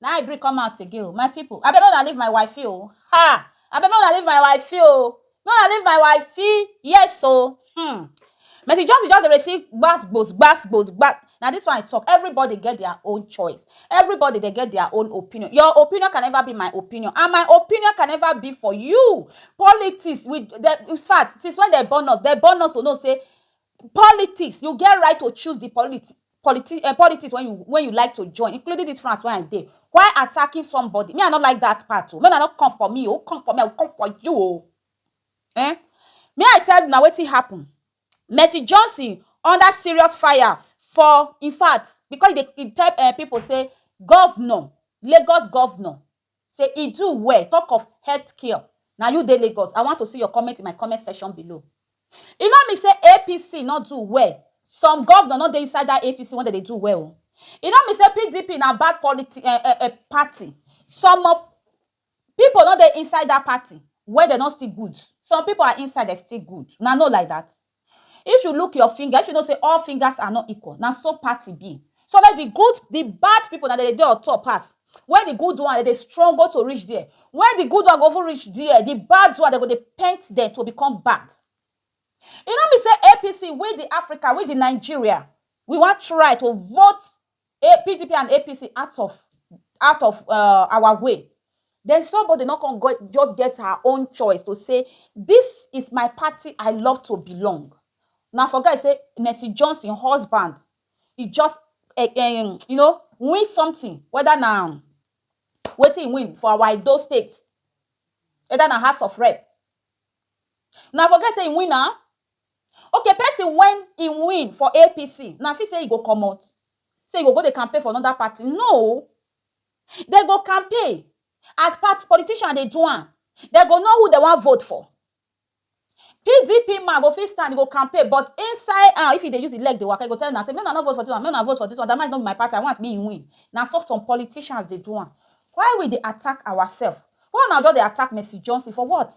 Na I bring come out again o my people abeg make una leave my wifey o haa abeg make una leave my wifey o make una leave my wifey yes o hmm Mercy Johnson just dey receive gbas gbos gbas gbos gba na this one I talk everybody get their own choice everybody dey get their own opinion your opinion can never be my opinion and my opinion can never be for you politics we dey infact since when dem born us dem born us to know say politics you get right to choose the politi politi eh, politics when you when you like to join, including this France where I dey, while attacking somebody. Me, I no like that part o. Oh. Make una no come for me o. Oh. Come for me, I will come for you o. Oh. Eh? Me, I tell una wetin happen. Mercy Johnson under serious fire for, in fact, because they, they tell uh, people say governor, Lagos governor, Say e do well talk of health care na you dey Lagos I want to see your comment in my comment section below e no mean say APC no do well some governor no dey inside that APC wey dem dey do well o e no mean say PDP na bad politi eh eh eh party some of people no dey inside that party wey dem no still good some people are inside dem still good una know like that. If you look your finger, if you know sey all fingers are not equal, na so party be. So let the good, the bad people, na dem dey dey on top pass. Where the good one, dem dey struggle to reach there. Where the good one go even reach there, the bad one, dem go dey paint dem to become bad. E no mean sey APC, we the Africa, we the Nigeria, we wan try to vote PDP and APC out of out of uh, our way. Then somebody not gonna go, just get her own choice to say, this is my party I love to belong. Now for guys say Mercy Johnson husband, he just uh, um, you know win something whether now waiting win for our Edo state, whether na House of Rep. Now for guys say win now, Okay person when e win for APC una fit say e go commot? Say e go go dey campaign for another party? No! Dem go campaign as per politician dey do am. Dem go know who dem wan vote for. PDP man go fit stand e go campaign but inside am if e dey use e leg dey waka e go tell una say make una no vote for this one, make una vote for this one, Damages no be my party, I want make e win. Na so some politicians dey do am. Why we dey attack ourselves? Why una just dey attack Mercy Johnson for what?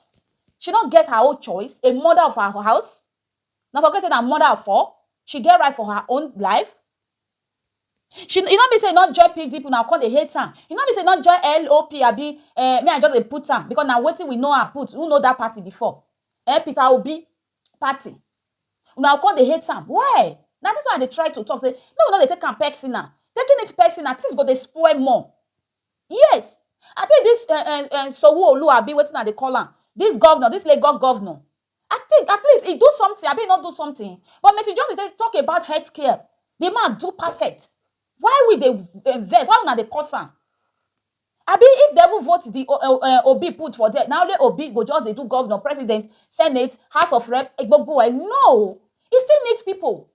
She no get her own choice, a mother of her house, una forget say na mother of four, she get right for her own life. She e no mean say e no join pdp una go come dey hate am, e no mean say e no join LOP abi um me I just dey put am because na wetin we know am put, who know that party before um Peter Obi party, una go come dey hate am why? Na this one I dey try to talk say make we no dey take am personal, taking it personal things go dey spoil more, Yes I think this um um Sanwo-Olu abi wetin una dey call am this governor this Lagos governor I think at least he do something abi he no do something but Mercy Johnson say talk about health care the man do perfect why we dey um vex why una dey curse am abi if dem even vote the um um Obi put for there na only Obi go just dey do governor, president, senate, house of rep gbogbo e no he still need people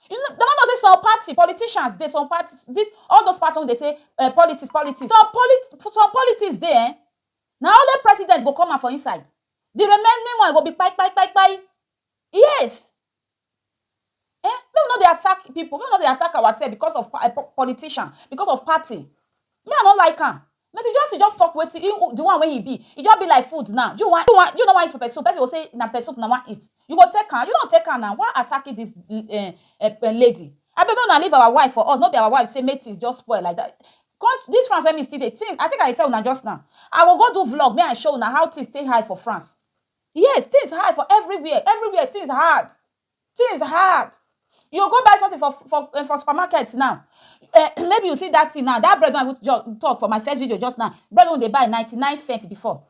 You no, dem no know say some party, politicians dey, some party, dis, all those party wey dey say um politics, politics, some poli, some politics dey um, na only president go come out for inside, di remaining one go be kpai, kpai, kpai, kpai, yes um, make we no dey attack pipu, make we no dey attack ourselves because of um politician, because of party, me I no like am, But e just e just talk wetin e the one wey e be e just be like food now you wan you wan you no wan eat pepper soup person go say na pepper soup una wan eat you go take am you no take am now why attacking this um lady abeg make una leave our wife for us no be our wife say make things just spoil like that come this France wey me still dey things I think I dey tell una just now I go go do vlog make I show una how things take high for France yes things high for everywhere everywhere things hard Things hard. You go go buy something for for eh, for supermarket now. Eh, maybe you see that thing now. That bread wey I even just talk for my first video just now. Bread wey we dey buy ninety nine cent before.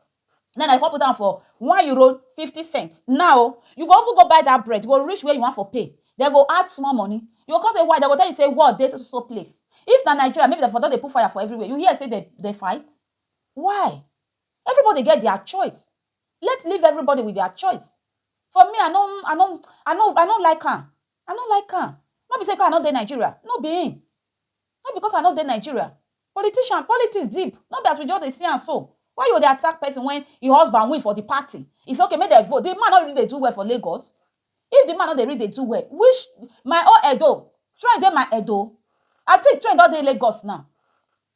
Then I come put am for one euro fifty cent. Now oh, you go even go buy that bread, you go reach where you want for pay. Dem go add small money. You go come say why? Dem go tell you say war dey so so so place. If na Nigeria, maybe dem for don dey put fire for everywhere. You hear say dem dey fight? Why? Everybody get their choice. let leave everybody with their choice for me i no i no i no i no like am i no like am no be say because i no dey nigeria no be him no because i no dey nigeria politician politics deep no be as we just dey see am so why you dey attack person when him husband win for the party it's okay make dem vote the man no really dey do well for lagos if the man no dey really dey do well which my own edo train dey my edo i think train don dey lagos now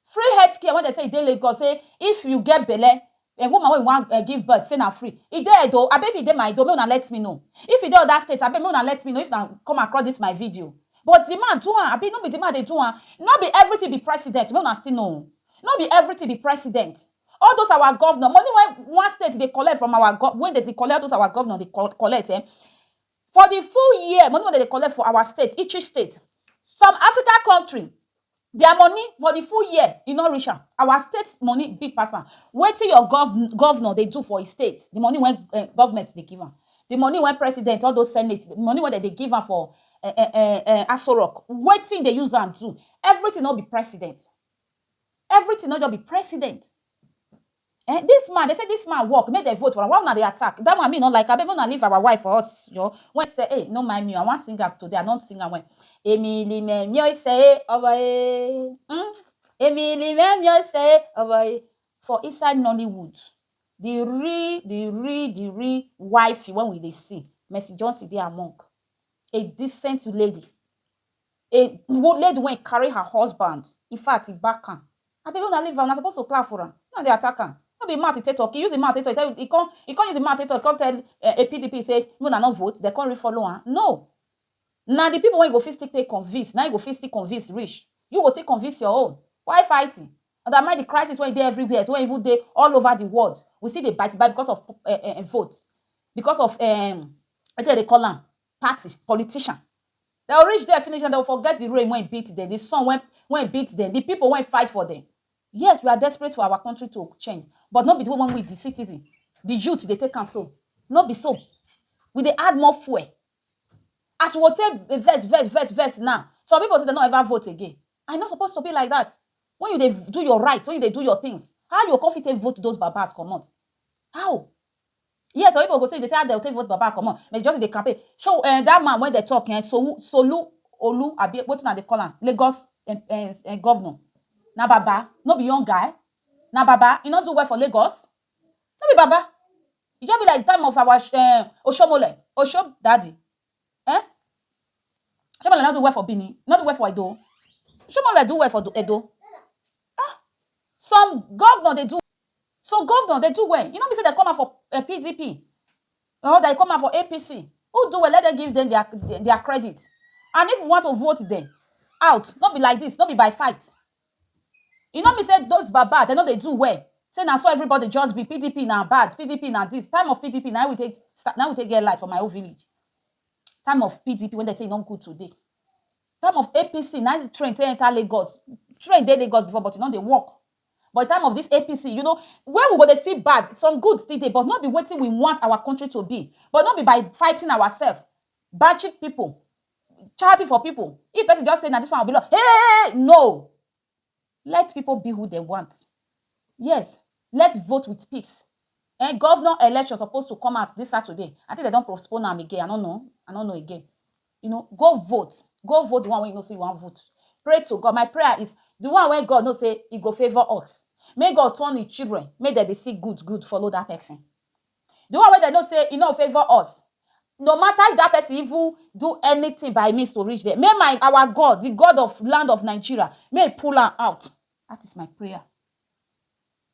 Free health care wey dem say e dey Lagos say if you get belle, um woman wey you wan um give birth say na free. E dey Edo abi if e dey Maido make una let me know. If e dey other state abeg make una let me know if una come across this my video. But the man do am abi no be the man dey do am? No be everything be president make una still know o. No be everything be president. All those our governor, money wey one state dey collect from our gov, wey dem dey collect, all those our governor dey col collect um for the full year, money wey dem dey collect for our state, each each state, some Africa country Their money for the full year e no reach am our state money big pass am wetin your governor governor dey do for his state the money wey um government dey give am the money wey president all those senate the money wey dem dey give am for um um Aso rock wetin he dey use am do everything no be president everything no just be president Ehn this man, dem say this man work make dem vote for am why una dey attack that one me no like abeg make una leave our wife for us jor when seh eh no mind me oo I wan sing am today I don sing am when Emi li me mi oi seh eh obo eh umm Emi li me mi oi seh eh obo eh for inside Nollywood the real the real the real wifey when we dey see Mercy Johnson dey among a decent lady a lady wey carry her husband infact e back am Abeg una leave am una suppose to clap for am una dey attack am no be im mouth e take talk e use im mouth take talk e tell e come e come use im mouth take talk e come tell um PDP say make una no vote dem come re follow am no na the people wey you go fit still take convince na im you go fit still convince reach you go still convince your own why fighting undermine the crisis wey e dey everywhere wey even dey all over the world we still dey bite bite because of um vote because of um wetin dem dey call am party, politician. Dem go reach there finish and dem go forget the rain wey beat dem, the sun wey wey beat dem, the people wey fight for dem. Yes, we are desperate for our country to change but no be the way wey we the citizen, the youth dey take am so. No be so. We dey add more fuel. As we go take dey vex vex vex vex now, some people say dem no ever vote again. And e no suppose to be like dat. When you dey do your right, when you dey do your things, how you go con fit take vote those babas comot? How? Yes, some people go say, they say how dem take vote Baba comot, but just dey campaign. Show um that man wey dem talk um Sowu Solu Olu abi wetin una dey call am, Lagos um um governor. Na Baba, no be young guy. Na Baba, e no do well for Lagos. No be Baba. E just be like the time of our um Oshomole, Osho daddy. Eh? Shobole no do well for Benin, no do well for Edo. Shobole do well for Edo. Ah, some governor dey do, some governor dey do well. E no mean say dem come out for eh, PDP or dem come out for APC. Who do well, let dem give dem their, their credit. And if you want to vote dem out, no be like this, no be by fight. E no mean say those baba dem no dey do well, say na so everybody just be, pdp na bad, pdp na this, time of pdp na him we take start, na him we take get light for my own village, time of pdp wey dem say e no good today, time of apc na him train take enter Lagos, train dey Lagos before but e no dey work, but time of this apc you know where we go dey see bad, some good still dey but no be wetin we want our country to be, but no be by fighting ourselves, batching people charity for people if person just say na this one be love hey no let people be who dem want yes let vote with peace eh governor election suppose to come out this Saturday I think they don postpone am again I no know I no know again you know go vote go vote the one wey you know say you wan vote pray to God my prayer is the one wey God know say e go favour us make God turn his children make dem dey see good good follow that person Di one wey dem know sey e nor favour us, no mata if dat pesin even do anytin by means to reach dem, make my our God, di God of land of Nigeria, make e pull am out, dat is my prayer.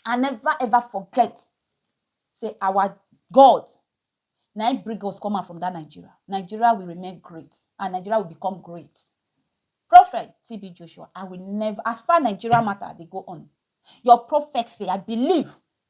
I neva ever forget sey our God na im bring us come out from dat Nigeria, Nigeria will remain great and Nigeria will become great. Prophet TB Joshua, I will neva, as far Nigeria mata dey go on, your prophecy, I believe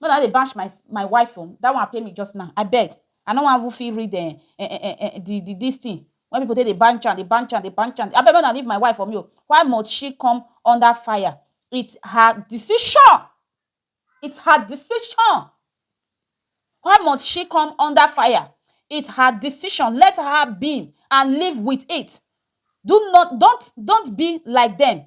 Make una no dey bash my my wife oo that one pain me just now abeg I no wan even fit read um um the the this thing wey people take dey bansh am dey bansh am dey bansh am abeg make una leave my wife for me oo why must she come under fire it's her decision it's her decision why must she come under fire it's her decision let her be and live with it do not don't don't be like them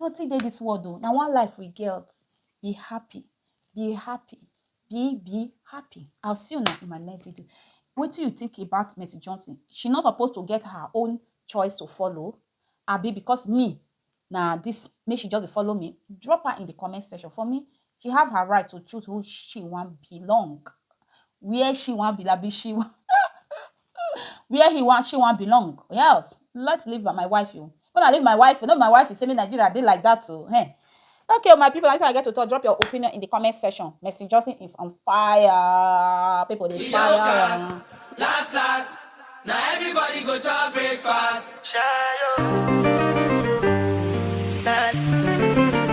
Nothing dey this world o, na one life we get. Be happy, be happy, be be happy. I'll see you now in my next video. What do you think about Mercy Johnson? She not supposed to get her own choice to follow? Abi because me na this make she just follow me? Drop her in the comment section for me. She have her right to choose who she want belong, where she want be like she. where he wan she wan belong or else let's leave my wife o when I leave my wife o no be my wife say me Nigeria dey like that o hey okay o my people na this one I get to talk drop your opinion in the comment section Mercy Johnson is on fire people dey fire am. Last last, na everybody go chop breakfast. Shayo.